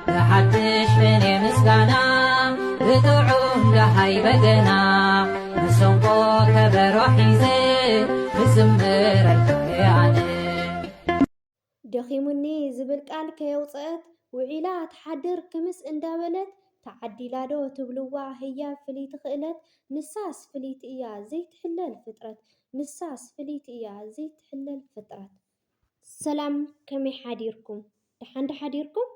ብሓድሽ ቅኔ ምስጋና ብጥዑም ደሃይ በገና መሰንቆ ከበሮ ሒዘ ክዝምረልካ እየ ኣነ ደኺሙኒ ዝብል ቃል ከየውፅአት ውዒላ ትሓድር ክምስ እንዳበለት ተዓዲላ ዶ ትብልዋ ህያብ ፍልይቲ ክእለት ንሳስ ፍልይቲ እያ ዘይትሕለል ፍጥረት ንሳስ ፍልይቲ እያ ዘይትሕለል ፍጥረት ሰላም ከመይ ሓዲርኩም ደሓን ዶ ሓዲርኩም?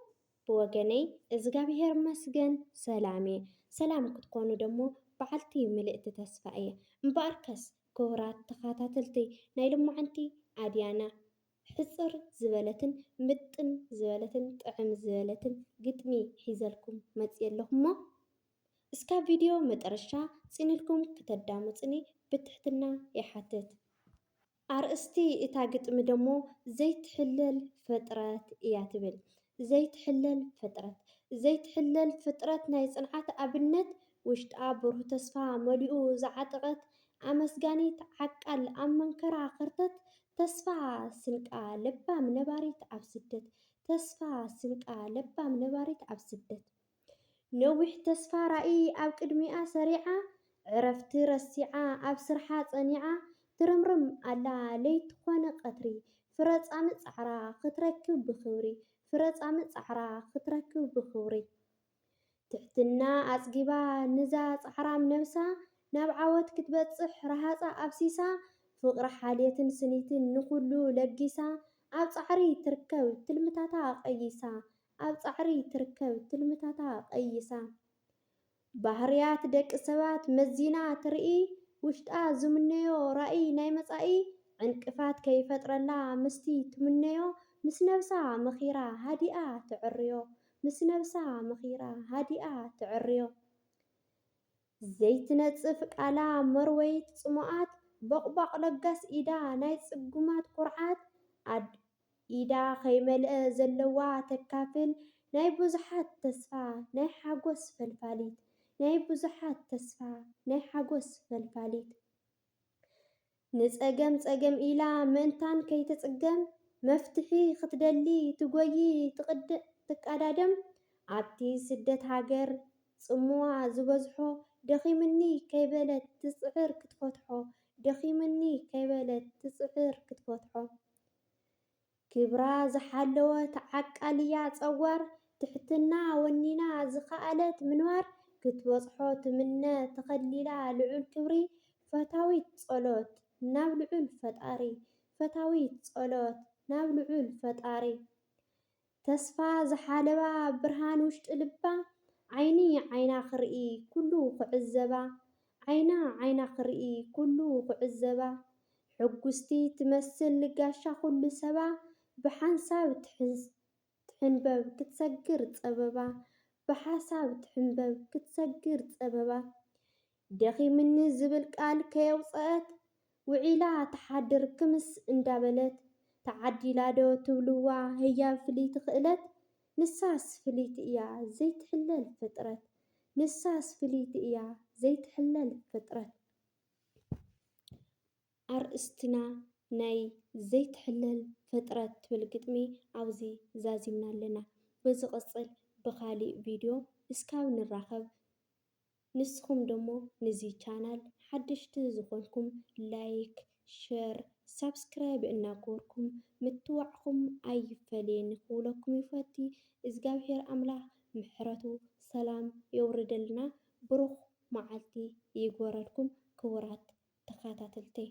ብወገነይ እዝጋብሄር ይመስገን ሰላም እየ። ሰላም ክትኮኑ ደሞ በዓልቲ ምልእቲ ተስፋ እየ። እምበኣርከስ ክቡራት ተኸታተልቲ ናይ ልማዓንቲ ኣድያና ሕጽር ዝበለትን ምጥን ዝበለትን ጥዕም ዝበለትን ግጥሚ ሒዘልኩም መጽየ ኣለኹሞ እስካብ ቪድዮ መጠረሻ ጽንልኩም ክተዳምጹኒ ብትሕትና ይሓትት። ኣርእስቲ እታ ግጥሚ ደሞ ዘይትሕለል ፍጥረት እያ ትብል። ዘይትሕለል ፍጥረት! ዘይትሕለል ፍጥረት ናይ ጽንዓት ኣብነት፣ ውሽጣ ብሩህ ተስፋ መሊኡ ዝዓጠቐት ኣመስጋኒት ዓቃል ኣብ መንከራ ከርተት፣ ተስፋ ስንቃ ለባም ነባሪት ኣብ ስደት! ተስፋ ስንቃ ለባም ነባሪት ኣብ ስደት! ነዊሕ ተስፋ ራኢ ኣብ ቅድሚኣ ሰሪዓ ዕረፍቲ ረሲዓ ኣብ ስርሓ ጸኒዓ ትርምርም ኣላ ለይቲ ኮነ ቀትሪ ፍረ ጻምእ ጻዕራ ክትረክብ ብኽብሪ ፍረ ጻምእ ጻዕራ ክትረክብ ብኽብሪ ትሕትና ኣጽጊባ ንዛ ጻዕራም ነብሳ ናብ ዓወት ክትበጽሕ ረሃጻ ኣፍሲሳ ፍቕሪ ሓልየትን ስኒትን ንኹሉ ለጊሳ ኣብ ጻዕሪ ትርከብ ትልምታታ ቀይሳ ኣብ ጻዕሪ ትርከብ ትልምታታ ቀይሳ። ባህርያት ደቂ ሰባት መዚና ትርኢ ውሽጣ ዝምነዮ ራኢ ናይ መጻኢ ዕንቅፋት ከይፈጥረላ ምስቲ ትምነዮ ምስ ነብሳ መኺራ ሃዲኣ ተዕርዮ ምስ ነብሳ መኺራ ሃዲኣ ተዕርዮ ዘይትነጽፍ ቃላ መርወይት ጽሙኣት ቦቕቧቕ ለጋስ ኢዳ ናይ ጽጉማት ኩርዓት ኣድ ኢዳ ከይመልኣ ዘለዋ ተካፍል ናይ ብዙሓት ተስፋ ናይ ሓጎስ ፈልፋሊት ናይ ብዙሓት ተስፋ ናይ ሓጎስ ፈልፋሊት ንጸገም ጸገም ኢላ ምእንታን ከይትጽገም መፍትሒ ክትደሊ ትጎዪ ትቃዳደም ኣብቲ ስደት ሃገር ጽምዋ ዝበዝሖ ደኺምኒ ከይበለት ትጽዕር ክትፈትሖ ደኺምኒ ከይበለት ትጽዕር ክትፈትሖ ክብራ ዝሓለወት ዓቃልያ ጸዋር ትሕትና ወኒና ዝኸኣለት ምንባር ክትበጽሖ ትምነ ተኸሊላ ልዑል ክብሪ ፈታዊት ጸሎት ናብ ልዑል ፈጣሪ ፈታዊት ጸሎት ናብ ልዑል ፈጣሪ ተስፋ ዝሓለባ ብርሃን ውሽጢ ልባ ዓይኒ ዓይና ክርኢ ኩሉ ክዕዘባ ዓይና ዓይና ክርኢ ኩሉ ክዕዘባ ሕጉስቲ ትመስል ጋሻ ኩሉ ሰባ ብሓንሳብ ትሕንበብ ክትሰግር ፀበባ ብሓሳብ ትሕንበብ ክትሰግር ፀበባ ደኺምኒ ዝብል ቃል ከየውጸኣት ውዒላ ትሓድር ክምስ እንዳበለት ተዓዲላ ዶ ትብልዋ ህያብ ፍልይቲ ክእለት ንሳስ ፍልይቲ እያ ዘይትሕለል ፍጥረት ንሳስ ፍልይቲ እያ ዘይትሕለል ፍጥረት ኣርእስትና ናይ ዘይትሕለል ፍጥረት ትብል ግጥሚ ኣብዚ ዛዚምና ኣለና በዝቕጽል ብኻሊእ ቪድዮ እስካብ ንራኸብ ንስኹም ደሞ ንዚ ቻናል ሓደሽቲ ዝኾንኩም ላይክ ሸር ሳብስክራይብ እናገበርኩም ምትዋዕኹም ኣይፈለየኒ ክብለኩም ይፈቲ እዝጋብሄር ኣምላኽ ምሕረቱ ሰላም የውርደልና ብሩኽ መዓልቲ ይግበረልኩም ክቡራት ተኻታተልተይ።